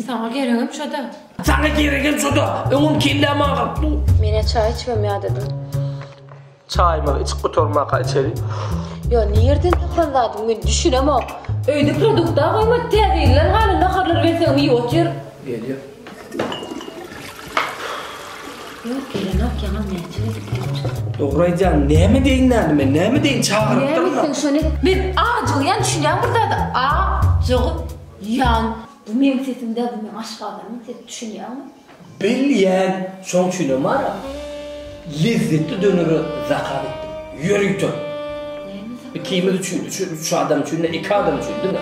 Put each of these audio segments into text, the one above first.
Saňa geregem şo-da. Saňa geregem şo-da. Öňem kellämi agyryp dur. Men-ä çaý içmem ýadadym. Çaýymyzy içip gutarmaka içeli. Ýa nirden tapylan zadyň men düşünemok. Öýde produkt-a goýmady. Täze gelen haly naharlary berseňem iýip otyr. Gelýär. Ýok gelenok ýaňam näçe gezek gelip çykdy. Dogryýdýaň näme deýin näme men näme deýin çagyrypdyrmy. Näme etseň şony et. Men ajygýan düşünýäň bir zada a jygyp ýan. Bu meň sesim däl bu meň aşgazanyň sesi düşünýäňmi. Bil ýän şoň üçinem bar a lezzetli dönere zakaz etdim ýörite. Näme zakaz etdiň. Ikimiz üçin üç adam üçin ne iki adam üçin diňe.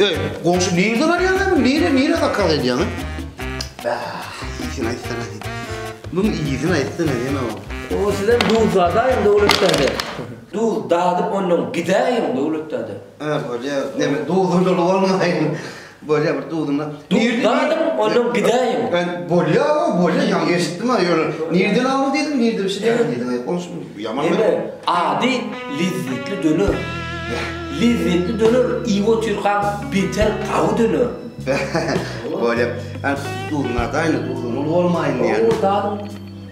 Ey, goňşy nirde barýaňam? Nire, nire kakak edýäňä? Ah, iýsin aýtsana. Bu iýsin aýtsana ýene o. O sizem duz zadaýyň döwlet däde. Duz dadyp ondan gidäýiň döwlet däde. Ha, bolýar. Näme, duzum doly bolmaýmy? Bolýa bir duzuna. Duz zadym ondan gidäýiň. Bolýa o bolýa ýaňy eşitdim ha ýöne nirden aldy diýdim nirde bişdi ýaňy diýdim aýyp bolsun ýaman bir. Ine ady lezzetli döner. Lezzetli döner iýip otyrkaň beter gawy döner. Bolýa. Duzuna daýna duzuna uly bolmaýyn diýen. O zadym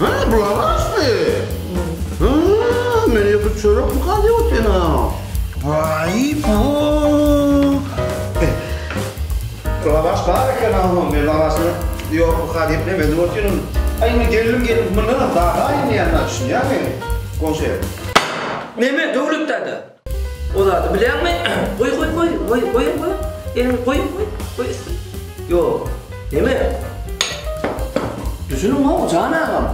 Hä, bular asby? Hä, men ýeke çörek galýa otena. Waý, bu. Lavaş bar eken agam, men lavaşyny ýok bu ka diýip näme edip otyryn. Aý, indi geldim geldim, mundanam dagy aýylmaýan-a, düşünýäňmi? Goňşy. Näme, Döwlet däde? O zady bileňmi? Goý, goý, goý, goý, goýaň, goýaň. Elini goýuň, goý, goý üstüne. Ýok. Neme? Düşüniň-ow, jan agam.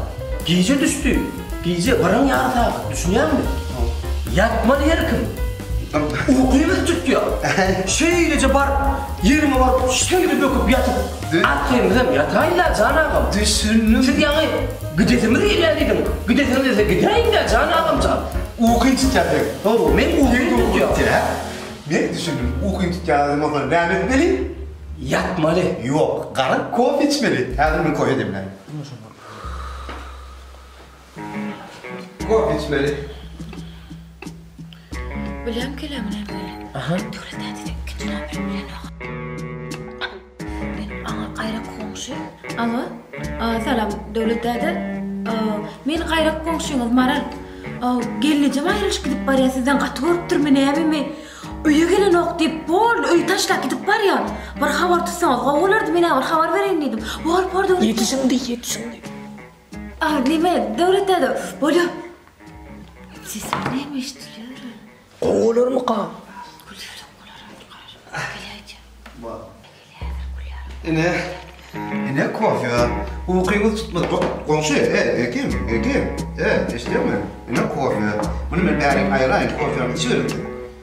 Gije düşdi. Gije birin ýary sagat, düşünýäňmi? Ýatmaly herkim. Uky bizi tutýar. Şeýleje baryp, ýeriňe baryp, şeýle böküp ýatyp. Arkaýymyzam ýataýyn-da, jan agam. Düşündim. Siz ýaňy gidesimiz gelýär diýdiň. Gidesiňiz gelse gidäýiň-dä, jan agam jan. Ukyň tutýar seniň. Hawa, meň ukymy tutýar. Men düşündim. Ukyň tutýar diýdiň, onsoň näme etmeli? Ýatmaly. Ýok, gara kofe içmeli. Häzir men kofe demläýin. Kofe içmeli. Bilem kelem ne be. Aha. Döwlet täze ikinci nomer bilen oka. Men aňa gaýrak goňşy. Alo. Salam Döwlet däde. Men gaýrak goňşyňyz Maral. Gelnejem aýrylyşyp gidip barýa sizden gaty gorupdyrmy nämemi. Öýe gelenok diýip bol öýi taşlap gidip barýa. Bir habar tutsaňyz gowy bolardy menä bir habar bereýin diýdim. Bor bor Döwlet däde. Ýet şindi ýet şindi. A neme döwlet däde bolýar. Sesi näme eşdilýär? Gowalarmyka? Ine, ine kofýa. Ukyňyz tutmady. Go- Goňşy, e, Ekim, Ekim. E, eşidýäňmi? Ine kofýa. Muny men bärik aýyraýyn, kofýany içiberin sen.